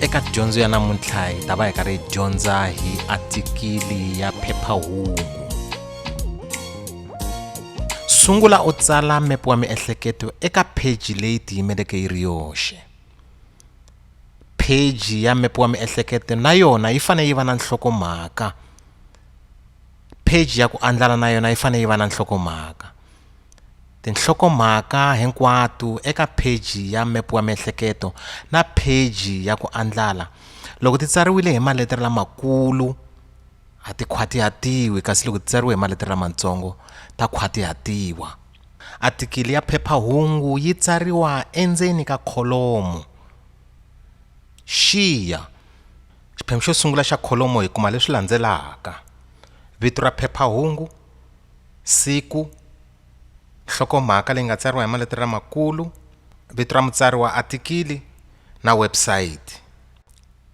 eka dyondzo ya namuntlha hi ta va hi karhi hi dyondza hi atikili ya phephahungu sungula u tsala mepe wa miehleketo eka pheji leyi tiyimeleke yi ri yoxe pheji ya mepe wa miehleketo na yona yi fanele yi va na nhlokomhaka pheji ya ku andlala na yona yi fanele yi va na nhlokomhaka Tinhlokomhaka hinkwato eka pheji ya Mepu wa Miehleketo na pheji ya Ku Andlala, loko ti tsariwile hi maletere lamakulu, a ti khwatihatiwi kasi loko ti tsariwe hi maletere lamatsongo, ta khwatihatiwa. Atikili ya phepha-hungu yi tsariwa endzeni ka kholomo. Xiya xiphemu xo sungula xa kholomo hi kuma leswi landzelaka, Vito ra phepha-hungu, siku nhlokomhaka leyi nga tsariwa hi maletere lamakulu vito ra mutsari wa athikili na website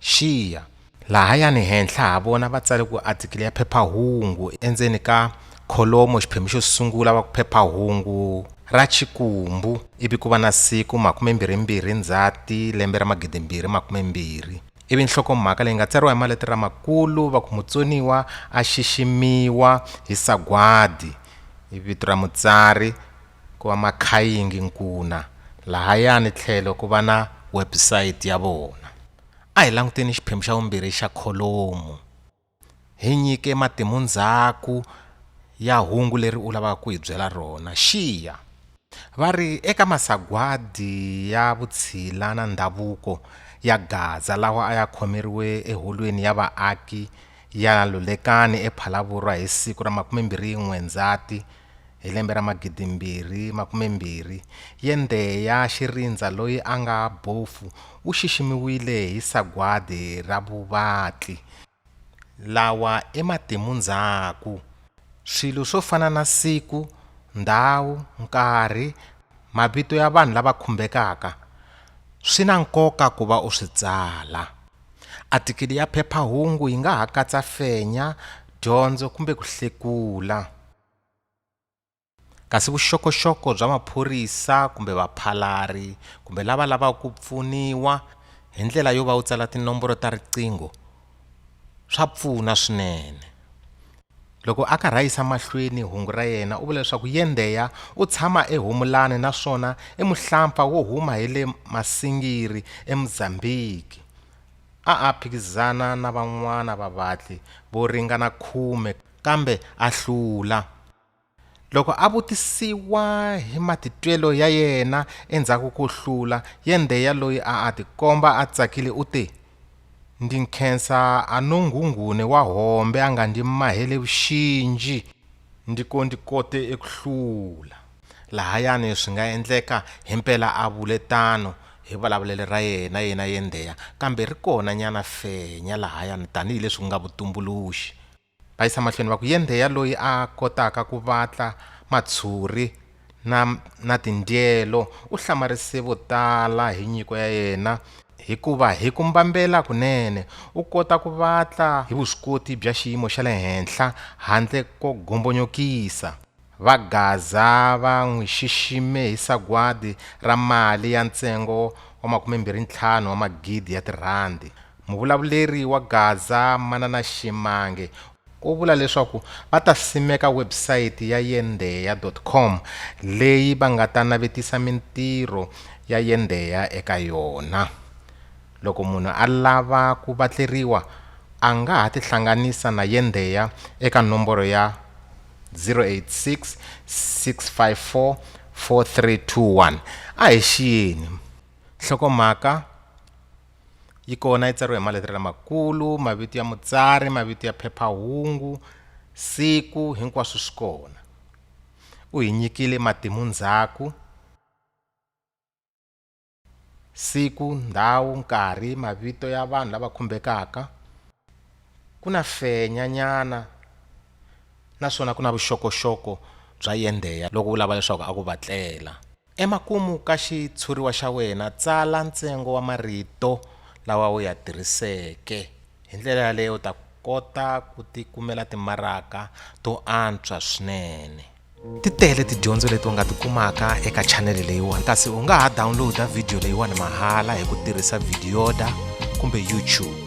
xiya lahayani henhla ha vona va tsale ku athikili ya phephahungu endzeni ka kholomo xiphemu xo sungula va ku phephahungu ra Xikwembu ivi ku va na siku makume mbirhi mbirhi Ndzhati lembe ra magidimbirhi makume mbirhi ivi nhlokomhaka leyi nga tsariwa hi maletere lamakulu va ku mutsoniwa a xiximiwa hi sagwadi i vito ra mutsari ku va makhayingi nkuna lahayani tlhelo ku va na website ya vona a hi languteni xiphemu xa vumbirhi xa kholomu Hi nyike matimu ndzhaku ya hungu leri u lavaka ku hi byela rona. Xiya! Va ri, Eka masagwadi ya vutshila na ndhavuko ya Gaza lawa a ya khomeriwe eHolweni ya Vaaki ya Lulekani ePhalaborwa hi siku ra 21 Ndzati 1944, Hi lembe ra magidimbirhi makumembirhi, yende ya xirindza loyi a nga bofu u xiximiwile hi sagwadi ra vuvatli, lawa i matimu ndzhaku. Swilo swo fana na siku, ndhawu, nkarhi, mavito ya vanhu lava khumbekaka swi na nkoka ku va u swi tsala. Atikili ya phepha-hungu yi nga ha katsa fenya, dyondzo kumbe ku hlekula. Kasi vuxokoxoko bya maphorisa kumbe vaphalari kumbe lava lavaka ku pfuniwa hi ndlela yo va u tsala tinomboro ta riqingho swa pfuna swinene loko a karhi a yisa mahlweni hungu ra yena u vula leswaku yendheya u tshama eHomolani naswona i muhlampfa wo huma hi le Masingiri eMozambique a a phikizana na van'wana vavatli vo ringana khume kambe a hlula. Loko a vutisiwa hi matitwelo ya yena endzhaku ko hlula, Yendheya loyi a a tikomba a tsakile u te, Ndi nkhensa anonghunghune wa hombe a nga ndi mahele vuxinji, ndi ko ndi kote eku hlula. Lahayani swi nga endleka himpela a vule tano hi vulavulele ra yena yena Yendheya, kambe ri kona nyana fenya lahayani tanihi leswi ku nga vutumbuluxi. Va yisa mahlweni va ku, Yendheya loyi a kotaka ku vatla matshuri na, na tindyelo u hlamarise vo tala hi nyiko ya yena, hikuva hi ku mbambela kunene u kota ku vatla hi vuswikoti bya xiyimo xa le henhla handle ko gombonyokisa. Va Gaza va n'wi xixime hi sagwadi ra mali ya ntsengo wa makume-mbirhi-ntlhanu wa magidi ya tirhandi. Muvulavuleri wa Gaza Manana Shimange u vula leswaku va ta simeka website ya Yendeya dot com leyi va nga ta navetisa mintirho ya Yendeya eka yona. Loko munhu a lava ku vatleriwa a nga ha tihlanganisa na Yendeya eka nomboro ya. 086 654 4321 a hi xiyeni nhlokomhaka yi kona yi tsariwe hi maletere lamakulu mavito ya mutsari mavito ya phephahungu siku hinkwaswo swi kona u hi nyikile matimu ndzhaku siku ndhawu nkarhi mavito ya vanhu lava khumbekaka ku na fenya nyana naswona ku na vuxokoxoko bya yendheya loko u lava leswaku a ku vatlela emakumu ka xitshuriwa xa wena tsala ntsengo wa marito lawa u ya tirhiseke hi ndlela yaleyo u ta kota ku ti kumela timaraka to antswa swinene ti tele tidyondzo leti u nga ti kumaka eka chanele leyiwani kasi u nga ha downloada vhidiyo leyiwani mahala hi ku tirhisa vhidiyoda kumbe youtube